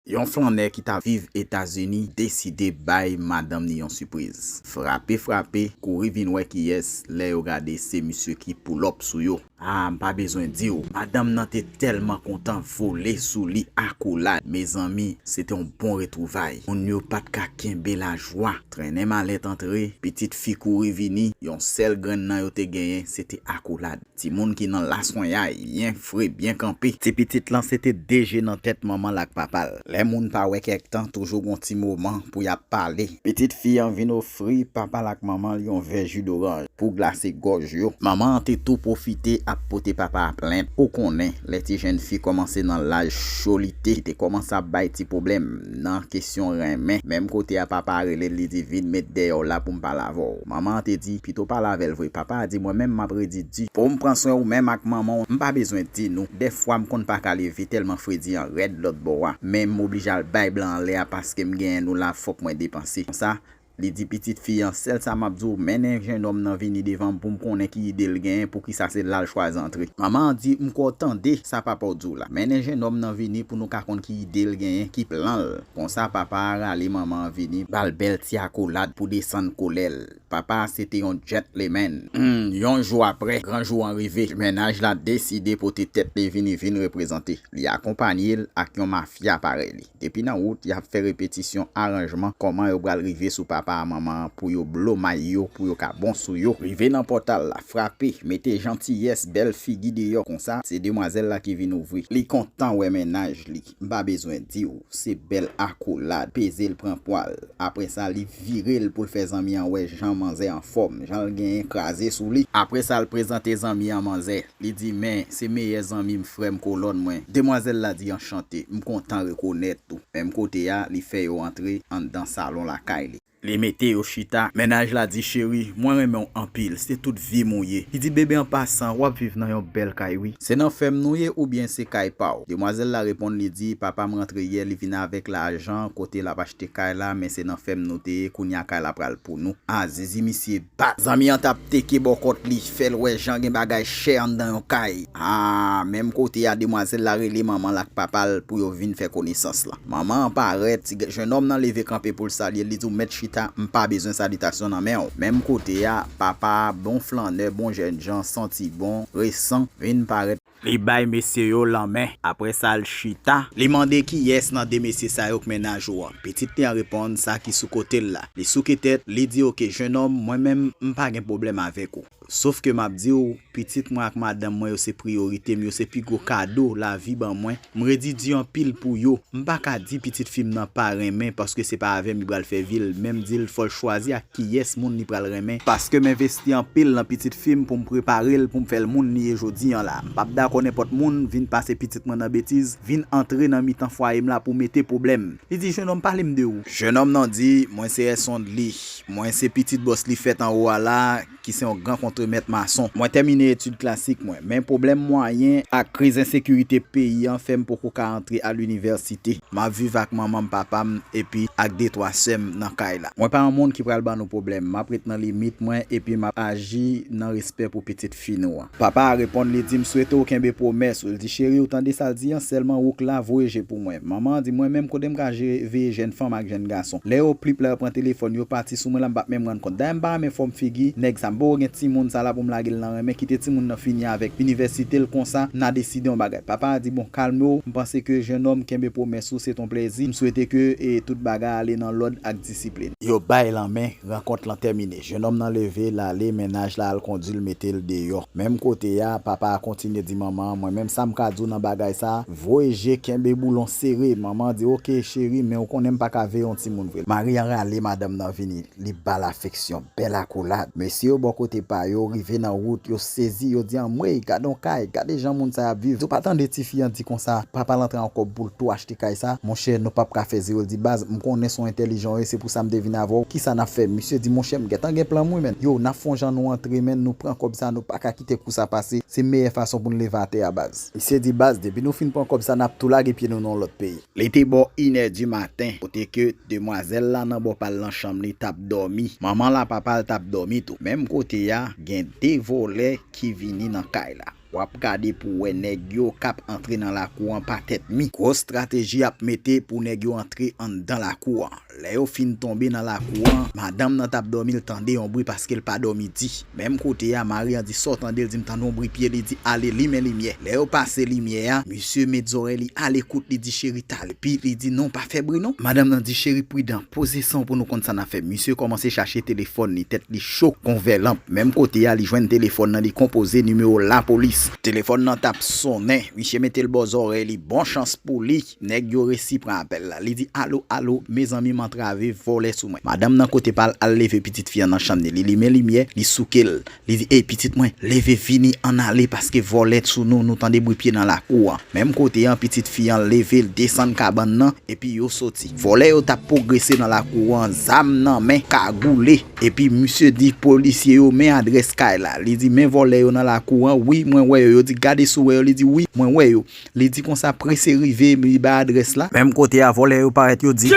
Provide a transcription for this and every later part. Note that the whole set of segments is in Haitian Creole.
Yon flannè ki ta viv Etazini deside bay madanm ni yon sipriz. Frape frape, kouri vin wè kiyès, lè yo gade se misye ki poulòp sou yo. Ah m pa bezwen di w, madanm nan te tèlman kontan vole sou li akolad. Mezanmi, se te yon bon retwouvay. Moun yo pa t ka kenbe lajwa. Trennen malèt antre, pitit fi kouri vini, yon sèl grenn nan yo te genyen se te akolad. Timoun ki nan laswenyay, byen fre, byen kanpe. Ti pitit lan se te de je nan tèt manman l ak papa l. Lè moun pa wè kèk tan, toujou gon ti moman pou y ap pale. Pitit fi an vin ofri papa l ak manman l yon vè ji doranj pou glase gòj yo. Manman an te tou pwofite ap pote papa a plent, ou konnen, lè ti jenn fi kòmanse nan laj cholite, li te kòmanse ap bay ti pwoblèm. Nan kesyon renmen, menm kote a papa a rele l li di vin met dèyè w la pou m pale avè w. Manman an te di, pito w pale avè l vre. Papa a di, mwen menm m ap redi di. Pou m pran swen ou menm ak manman w. M pa bezwen di nou, dèfwa m konn pa ka leve tèlman fredi an rèd lòtbò a, men m oblije al bay blan an lè a paske m genyen nou la fòk mwen depanse. Konsa, Li di pitit fi an, Sèl sa m ap di w, mennen jenòm nan vini devan m pou m konnen ki ide l genyen, poukisa se la l chwazi antre. Manman an di, M kwè w tande sa papa w di w la. Mennen jenòm nan vini pou nou ka konn ki ide l genyen, ki plan l. Konsa, papa a rale manman an vini, ba l bèl ti akolad pou desann kolè l. Papa a se te yon djètlemenn. Humm, yon jou apre, gran jou an rive. Mennaj la deside pote tèt li vini vin reprezante. Li akonpanye l ak yon mafya parèy li. Depi nan wout yap fè repetisyon aranjman kòman yo pral rive sou papa a manman an pou yo blo may yo pou yo ka bon sou yo. Rive nan pòtal la, frape, mete jantiyès, bèl figi deyò konsa, se demwazèl la ki vin ouvri. Li kontan wè mennaj li, m pa bezwen di w, se bèl akolad, peze l pran pwa l. Aprè sa li vire l pou l fè zanmi an wè jan manzè anfòm, jan l genyen kraze sou li. Aprè sa l prezante zanmi an manzè. Li di, Men, se meyè zanmi m, frè m, kolòn mwen. Demwazèl la di, Anchante, m kontan rekonèt ou. Menm kote a, li fè yo antre anndan salon lakay li. Li mete yo chita. Mennaj la di, Cheri, mwen renmen w anpil. Se tout vi m ou ye. Li di, Bebe, an pasan, w ap viv nan yon bèl kay, wi. Se nan fèm nou ye oubyen se kay pa w? Demwazèl la reponn, li di, Papa m rantre yè, li vin avèk lajan kote l ap achte kay la, men se nan fèm nou te ye, kounye a kay la pral pou nou. A! Zizi misye! Pa. Zanmi an tap teke bò kòt li fèl wè jan gen bagay chè anndan yon kay aa menm kote a demwazèl la rele manmanl ak papal pou yo vin fè konesans lan manman an parèt ti jenòm nan leve kanpe poul salyel li diw mèt chita mpa bezwen salitasyon nan menw menm kote a papa a bon flannè bon jènjan santi bon resan vin parèt Li bay mesye yo lanmen, apre sa l chita. Li mande kiyès nan de mesye sa yo k mennaj ou an. Pitit li an reponn sa ki sou kote l la. Li souke tèt, li di oke jenòm mwen menm m pa gen pwoblèm avèk ou. Sof ke m ap di w, pitit mwen ak madanm mwen yo se priyorite m, yo se pi gwo kado lavi ban mwen. M redi di anpil pou yo. M pa ka di pitit fi m nan pa renmen paske se pa avè m li pral fè vi l, men m di l fò l chwazi ak kiyès moun li pral renmen, paske m envesti anpil nan pitit fi m pou m prepare l pou m fè l moun li ye jodi an la. M p ap dakò nenpòt moun vin pase pitit mwen nan betiz, vin antre nan mitan fwaye m la pou mete pwoblèm. Li di, Jenòm, pale m de ou. Jenòm nan di, Mwen se Èsond li. Mwen se pitit bòs li fèt anwo a la, ki se yon gran kontremèt mason. Mwen tèmine etid klasik mwen, men pwoblèm mwayen ak kriz ensekirite peyi an fè m poko ka antre a linivèsite. M ap viv ak manman m, papa m epi ak detwa sè m nan kay la. Mwen pa yon moun ki pral ban nou pwoblèm. M ap ret nan limit mwen epi m ap aji nan respè pou pitit fi nou. Papa a reponn li di m swete w kenbe pwomès ou l di cheri ou tande sa l di an sèlman ou k la voye je pou mwen manman an di mwen menm kote m ka jere veye jèn fanm ak jèn gason lè yo plip la yo pran telefòn yo pati sou mwen la m pat menm rann kont dayè m pa renmen fòm figi nèg sa m poko gen timoun sa la pou m lage l nan renmen kite timoun nan fini avèk inivèsite l konsa n a deside yon bagay papa a di bon kalme w m panse ke jennonm kenbe pwomès ou se t on plèzi m swete ke tout bagay ale nan lòd ak disiplin. Yo bay lanmen rankont lan tèmine. Jenòm nan leve, l ale, mennaj la al kondi l mete l deyò. Menm kote a, papa a kontinye di manman an, mwen menm sa m ka di w nan bagay sa, voye je, kenbe boulon sere. Manman an di, oke, cheri, men ou konnen m pa ka veye yon timoun vre. Mari an rale madanm nan vini, li ba l afeksyon, bèl akolad. Mesye yo bò kote pa yo, rive nan wout, yo sezi, yo di, anmwey, gad yon kay, gade jan moun sa y ap viv. Ou pa tande tifi an di konsa, papa l antre an kòb pou l tou achte. kay sa monchè nou pap ka fè zero l di baz m konnen son entèlijan w ye se pou sa m te vin avè w kisa nap fè misye di monchè m gentan gen plan m wi men yo nap fon jan nou antre men nou pran kòb sa nou paka kite kou sa pase se meyè fason pou n leve atè a baz. Misye di baz depi nou fin pran kòb sa nap tou lage pye nou nan yon lòt peyi. Li te bò inè di maten kote ke demwazèl la nan bò pal nan chanm li tap dòmi manman l a papa l tap dòmi tou menm kote a gen 2 vòlè ki vini nan kay la. Wap gade pou wè nèg yo kap antre nan lakou an pa tèt mi. Gwo strateji yap mete pou nèg yo antre anndan lakou an. Lè yo fin tonbe nan lakou an, madanm nan tap dòmi l tande yon bri paske l pa dòmi di. Menm kote a, mari an di sa w tande l di m tande yon bri pye li di ale limen limyè. Lè yo pase limyè a, misye met zòrèy li ale kout li di cheri ta. Pi li di non pa fè bri non. Madanm nan di cheri pridan, poze sanw pou nou konn sa na fè. Misye kòmanse chache telefòn li, tèt li cho kon vè lanp. Menm kote a li jwenn telefòn nan li konpoze nimewo lapolis. Telefòn nan tap sonnen, misye metel bò zòrèy li, bon chans pou li nèg yo resi pran apèl la. Li di alo alo, mezanmi m antrave, vòlè sou mwen. Madanm nan kote pal al leve pitit fi an nan chanm ni, li limen limyè, li soukel. Li di, Ey, pitit mwen, leve vini ann ale, paske vòlè t sou nou, nou tande bri pye nan lakou an. Menm kote an, pitit fi an leve, l desann kabann nan, epi yo soti. Vòlè yo t ap pwogrese nan lakou an, zam nan men, kagoule. Epi, misye di polisye yo, Men adrès kay la. Li di, Men vòlè yo nan lakou an. Wi, mwen wè yo. Yo di, Gade si w wè yo. Li di, Wi, mwen wè yo. Li di konsa, Prese rive. Li bay adrès la. Menm kote a, vòlè yo parèt, yo di.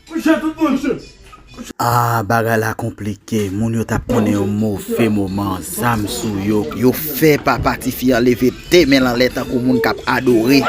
Kouche tout moun che. Ah bagay la konplike moun yo tap konnen yon move moman zam sou yo. Yo fè papa tifi an leve 2 menl anlè tankou moun kap adore.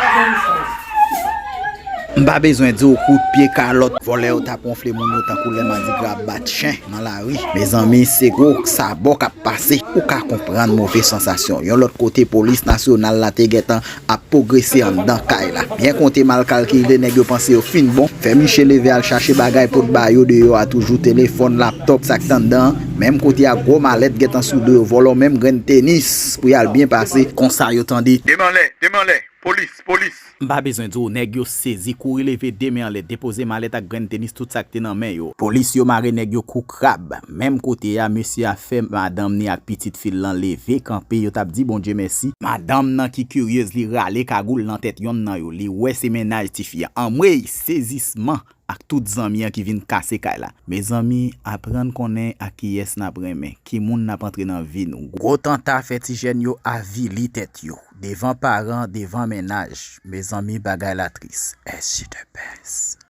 M pa bezwen diw kout pye kalòt vòlè yo tap wonfle moun yo tankou lè madigra ap bat chen nan lari. Mezanmi se gwo sabò kap pase. Ou ka konprann move sansasyon. Yon lòt kote polis nasyonal la te gentan ap pogrese anndan kay la. Byen konte mal kalkile nèg yo panse yo fin bon, fè miche leve al chache bagay pot ba yo deyò a toujou telefòn, laptòp sak t anndan an, menm kote a gwo malèt gentan sou do yo vòlò menm grenn tenis pou yal byen pase. Konsa yo tande. De men anlè, de men anlè, polis, polis. M pa bezwen di w nèg yo sezi kouri leve de men anlè depoze malèt ak grenn tenis tout sak te nan men yo. Polis yo mare nèg yo kou. Krab, menm kote a, mesye a fè madanm ni ak pitit fi l lan leve kanpe, yo t ap di Bondye mèsi, madanm nan ki kiryez li rale kagoul nan tèt yonn nan yo, li wè se mennaj tifi a, anmweyy, sezisman ak tout zanmi an ki vin kase kay la, mezanmi aprann konnen ak kiyès n ap renmen, ki moun n ap antre nan vi nou, gwo tanta fè ti jèn yo avili tèt yo, devan paran, devan mennaj, mezanmi bagay la tris, SJDPS.